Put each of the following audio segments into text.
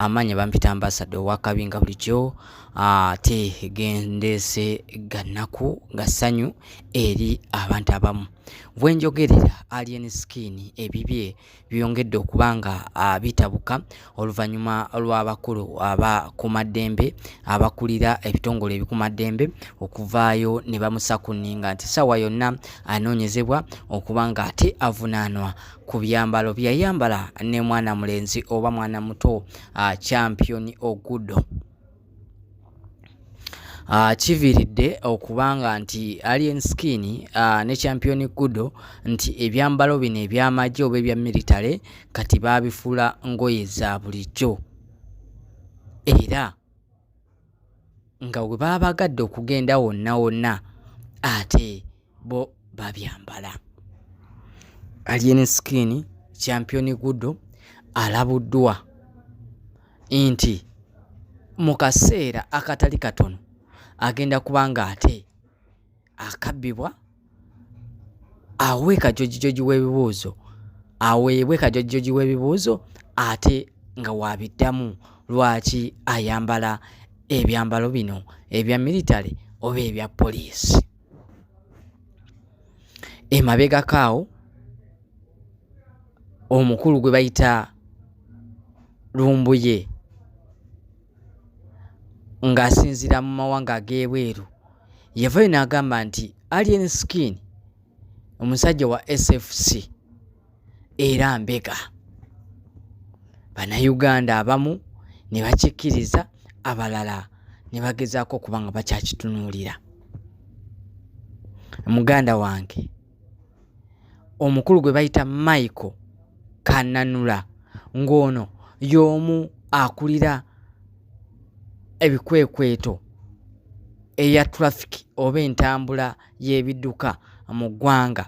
amaanyi bampita ambasada owakabi nga bulijjo ate gendeese gannaku nga ssanyu eri abantu abamu bwenjogerera alien skin ebibye byongedde okuba nga bitabuka oluvannyuma lw'abakulu abakumaddembe abakulira ebitongole ebikumaddembe okuvaayo ne bamusakuninga nti ssaawa yonna anoonyezebwa okuba nga ate avunaanwa ku byambalo byeyayambala ne mwana mulenzi oba mwana muto uh, champion ogudo Ah, kiviiridde okubanga nti Alien Skin ah, ne Champion Kudo nti ebyambalo bino eby'amagye oba ebya military kati baabifuula ngoye za bulijjo era nga we baba bagadde okugenda wonna wonna ate bo babyambala alien skin champion gudo alabuddwa nti mu kaseera akatali katono agenda kuba nga ate akabbibwa awe kajojijoji w'ebibuuzo aweebwe kajojijoji w'ebibuuzo ate nga waabiddamu lwaki ayambala ebyambalo bino ebya military oba ebya poliisi emabegako awo omukulu gwe bayita lumbuye ng'asinziira mu mawanga ag'ebweru yavayo n'agamba nti alien skin omusajja wa sfc era mbega bannayuganda abamu ne bakikkiriza abalala ne bagezaako okuba nga bakyakitunuulira muganda wange omukulu gwe bayita Michael Kananula ng'ono y'omu akulira ebikwekweto eya traffic oba entambula y'ebidduka mu ggwanga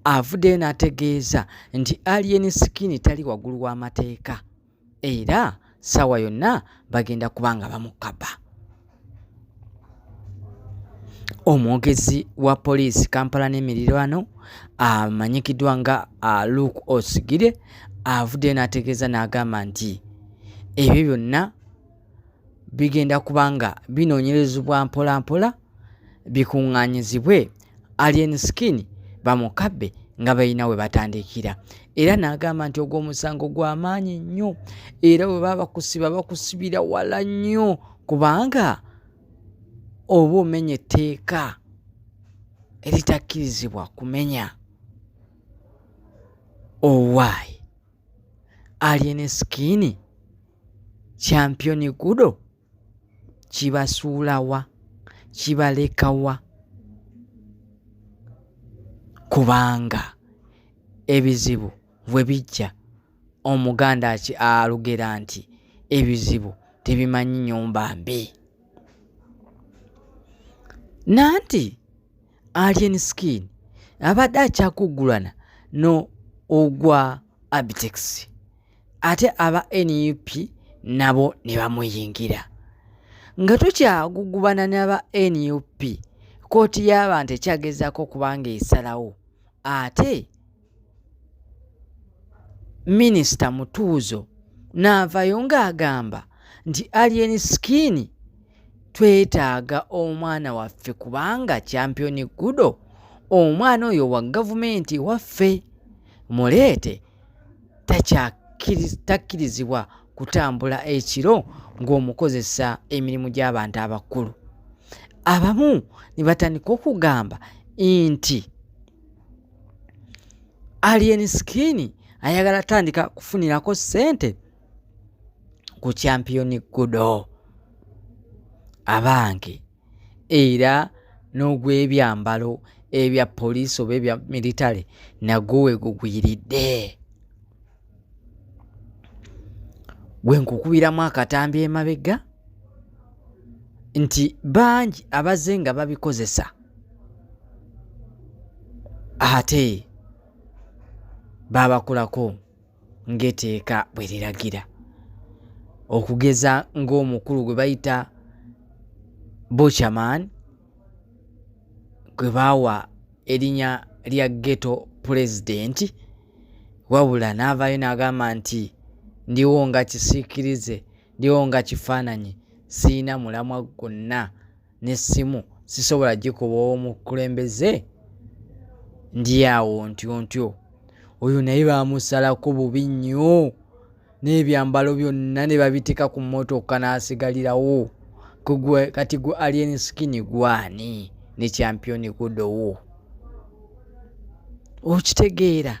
avuddeyo n'ategeeza nti Alien Skin tali waggulu w'amateeka. era saawa yonna bagenda kuba nga bamukaba omwogezi wa poliisi kampala n'emirirwano amanyikiddwa nga luke osigire avuddeyo n'ategeeza n'agamba nti ebyo byonna bigenda kuba nga binoonyerezebwa mpolampola bikuŋŋaanyizibwe alien skin bamukabbe nga balina we batandikira era n'agamba nti ogwo omusango gwa maanyi nnyo era bwe baba bakusiba bakusibira wala nnyo kubanga oba omenya etteeka eritakkirizibwa kumenya owaayi alien skin championi gudo kibasuula wa kibaleka wa kubanga ebizibu bwe bijja omuganda alugera nti ebizibu tebimanyi nyumba mbi nanti alien skin abadde akyakuggulana no ogwa abitex ate aba nup nabo ne bamuyingira nga tukyagugubana naba nup kkooti y'abantu ekyagezaako okuba ng'esalawo ate minisita mutuuzo n'avayo ng'agamba nti alien skin twetaaga omwana waffe kubanga championi gudo omwana oyo wa gavumenti waffe muleete takkirizibwa kutambula ekiro ng'omukozesa emirimu gy'abantu abakulu abamu ne batandika okugamba nti alien skin ayagala tandika kufunirako ssente ku champiyoni gudo abange era n'ogw'ebyambalo ebya poliisi oba ebya militale nagwo wegugwiridde wenkukubiramu akatambi emabega nti bangi abaze nga babikozesa ate babakulako ng'eteeka bwe liragira okugeza ng'omukulu gwe bayita buchaman gwe baawa erinnya lya geto pulezidenti wabula n'avaayo n'agamba nti ndiwo nga kisiikirize ndiwo nga kifaananyi sirina mulamwa gwonna n'essimu sisobola gikuba omukulembeze ndi awo ntyo ntyo oyo naye baamusalako bubi nnyo n'ebyambalo byonna ne babiteeka ku mmotoka n'asigalirawo kugwe kati gwe alien skin gwani ne champiyoni gudowo okitegeera